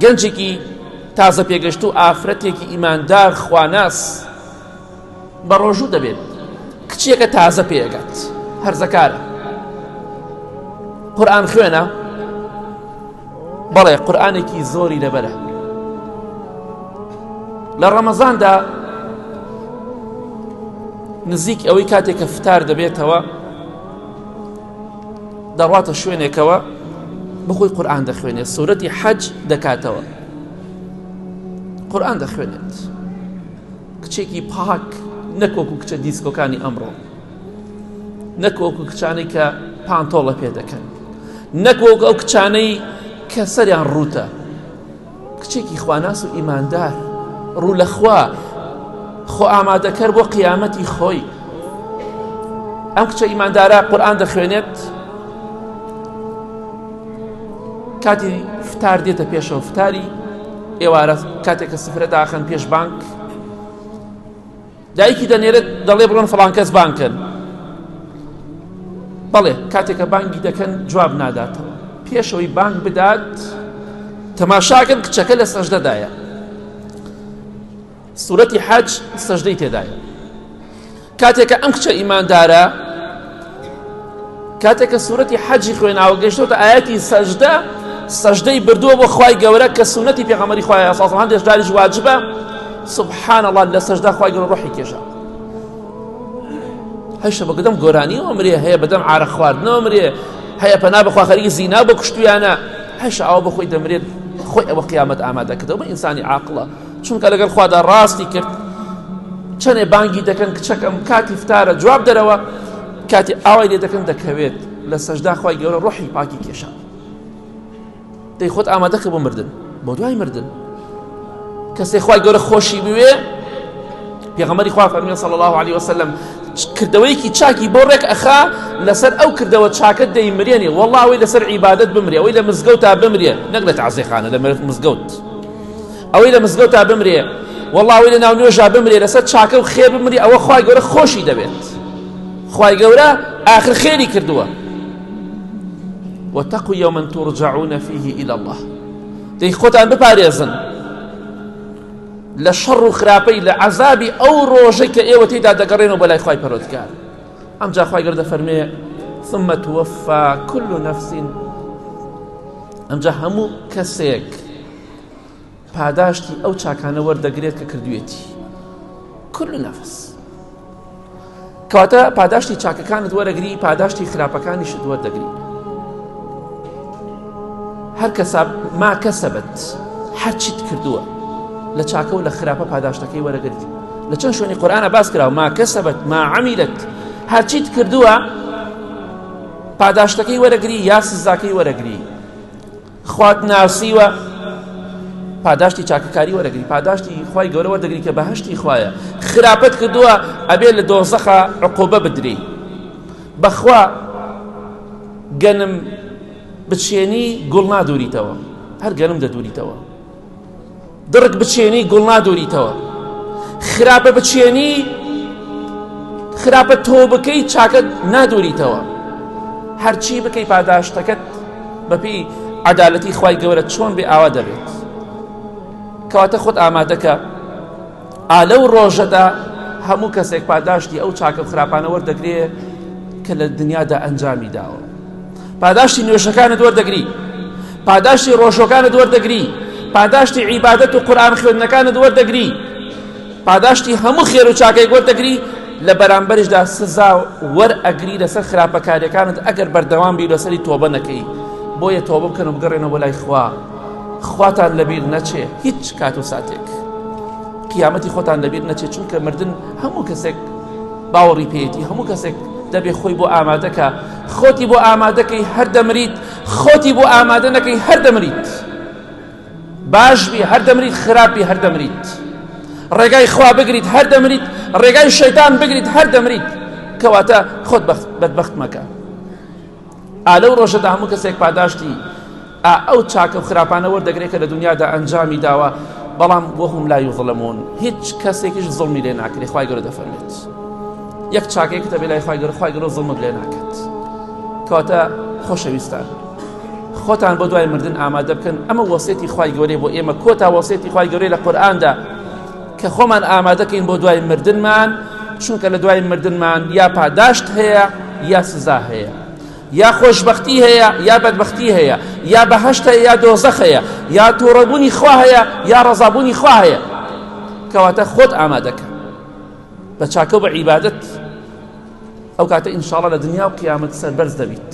گەنجێکی تازە پێگەشتوو ئافرەتێکی ئیماندار خواناس بەڕۆژوو دەبێت کچێکە تازە پێگات هەرزەکارە قورآن خوێنە بەڵێ قورآانێکی زۆری لەبەرە لە ڕەمەزاندا نزیک ئەوەی کاتێک کە فتار دەبێتەوە دەڕواتە شوێنێکەوە بەخۆی قورآان دەخوێنێت سوورەتی حەج دەکاتەوە قورآان دەخوێنێت کچێکی پاک نەکۆک و کچە دیسکۆکانی ئەمڕۆ نەکۆک و کچانی کە پانتۆڵە پێ دەکەن نەکۆک ئەو کچانەی کە سەریان ڕوتە کچێکی خواناس و ئیماندار ڕوو لە خوا خۆ ئامادەکەر بۆ قیامەتی خۆی ئەم کچە ئیماندارە قورآان دەخوێنێت کاتی فتار دێتە پێشەوە فتاری ئێوارە کاتێکە سفرە داخن پێش بانک دایکی دەنێرێت دەڵێ بڕۆن فڵان کەس بانگ کەن بەڵێ کاتێکە بانگی دەکەن جواب ناداتەوە پێشەوەی بانگ بدات تەماشاکەن کچەکە لە سەژدەدایە سورەتی حەج سەژدەی تێدایە کاتێکە ئەم کچە ئیماندارە کاتێک کە سورەتی حەجی خوێناوە گەشتۆتە ئاەتی سەجدە سەجدەی بردووە بۆ خی گەورە کە سونەتی پێغەمەری خخوای ساڵ هەندێک جاریش واجبە سبحان الله لە سەجدا خخوای گەورە ڕحی کێشە هەشە بە گدەم گۆرانی ئەمرێ هەیە بەدەم عرە خواردنەوە مرێ هەیە پەنا بەخوا خەریکی زینا بە کوشتویانە هەشە ئەو بەخۆی دەمرێت خۆی ئەوە قیامەت ئامادەکردەوە بە ئینسانی عاقلە چونکە لەگەڵ خوادا ڕاستی کرد چەنێ بانگی دەکەن کچەکەم کاتی فتارە جواب دەرەوە کاتی ئاوای لێ دەکەن دەکەوێت لە سەجدا خی گەورە ڕۆحی پاکی کێشان دەی خۆت ئامادەکە بۆ مردن بۆ دوای مردن کەسێ خی گەورە خۆشی بوێ پێغەمەری خوا فەرمی صلی الله عليه وسلم کردەوەیەکی چاکی بۆ ڕێک ئەخا لەسەر ئەو کردەوە چاکە دەیمرێنێ وەڵاوی لەسەر عیبادت بمرێ ئەوی لە مزگەوت تا بمرێ نەک لە تعزیخانە لە مزگەوت ئەوەی لە مزگەوتا بمرێ والله ئەوەی لە ناو نوێژا بمرێ لەسەر چاکە و خێر بمری ئەوە خی گەورە خۆشی دەبێت خی گەورە آخر خێری کردووە وتەقو یومن تورجعونە فیه إلى الله دەی خۆتان بپارێزن لە شەڕ و خراپەی لە عذابی ئەو ڕۆژەی کە ئێوە تێدا دەگەڕێنەوە بەلای خی پەرۆتکار ئەم جاخوای گەردە فەرمێ ثم توفى كل نفس ئەمجا هەموو کەسێک پاداشتی ئەو چاکانە وەردەگرێت کە کردوێتی کل نەفس کەواتە پاداشتی چاکەکانت وەرەگری پاداشتی خراپەکانی شت وەردەگری هەر کەسا ما کەسەبت هەرچیت کردووە لە چاکە و لە خراپە پاداشتەکەی وەرەگرت لە چەند شوێنی قۆرانە باس کرا ما کەسەبت ما عمیلت هەرچیت کردووە پاداشتەکەی وەرەگری یا سزاکەی وەرەگری خوات ناسیوە پاداشتی چاکەکاری وەرەگری پاداشتی خوای گەورە وەردەگری کە بەهشتی خوایە خراپەت کردووە ئەبێ لە دۆزەخە عقۆبە بدری بەخوا گەنم بچێنی گوڵ نادوریتەوە هەر گەنم دەدوریتەوە دڕک بچێنی گوڵ نادۆریتەوە خراپە بچێنی خراپە تۆ بکەی چاکەت نادۆریتەوە هەرچی بکەی پاداشتەکەت بەپی عدالەتی خی گەورە چۆن بێ ئاوا دەبێت کەواتە خۆت ئامادەکە ئا لەو ڕۆژەدا هەموو کەسێک پاداشتی ئەو چاکە و خراپانە وەردەگرێ کە لە دنیادا ئەنجامی داوە پاداشتی نوێژەکانت وەردەگری پاداشتی ڕۆژەکانت وەردەگری پاداشتی عیبادەت و قورآن خوێندنەکانت وەردەگری پاداشتی هەموو خێر و چاکەی وەردەگری لە بەرامبەرشدا سزا وەر ئەگری لەسەر خراپەکاریەکانت ئەگەر بەردەوام بی لەسەری تۆبە نەکەی بۆیە تۆبە بکەن و بگەڕێنەوە بۆ لای خوا خواتان لەبیر نەچێ هیچ کات و ساتێک قیامەتی خۆتان لەبیر نەچێت چونکە مردن هەموو کەسێک باوەڕی پێێتی هەموو کەسێک دەبێ خۆی بۆ ئامادەکە خۆتی بۆ ئامادەکەی هەر دەمریت خۆتی بۆ ئامادە نەکەی هەر دەمریت باش بی هەر دەمریت خراپی هەر دەمریت ڕێگای خوا بگریت هەر دەمریت ڕێگای شەیتان بگریت هەر دەمریت کەواتە خۆت بەدبخت مەکە ئالە و ڕۆژەدا هەموو کەسێک پاداشتی ئا ئەو چاکە و خراپانە وەردەگرێ کە لە دونیادا ئەنجامی داوە، بەڵام وهم لا یظلمون هیچ کەسێکیش زوڵمی لێ ناکرێ، خوای گەورە دەفەرموێت یەک چاکەیەکت هەبێ لای خوای گەورە خوای گەورە زوڵمت لێ ناکات کەواتە خۆشەویستان خۆتان بۆ دوای مردن ئامادە بکەن ئەمە وەسێتی خوای گەورەی بۆ ئێمە کۆتا وەسێتی خوای گەورەی لە قورئاندا کە خۆمان ئامادەکەین بۆ دوای مردنمان چونکە لە دوای مردنمان یا پاداشت هەیە یا سزا هەیە یا خۆشبەختی هەیە یا بەدبەختی هەیە، یا بەهەشت هەیە یا دۆزەخ هەیە، یا توڕەبوونی خوا هەیە یا ڕەزابوونی خوا هەیە، کەواتە خۆت ئامادەکە بە چاکە و بە عیبادەت، ئەو کاتە ئینشاڵڵا لە دنیا و قیامەت سەربەرز دەبیت.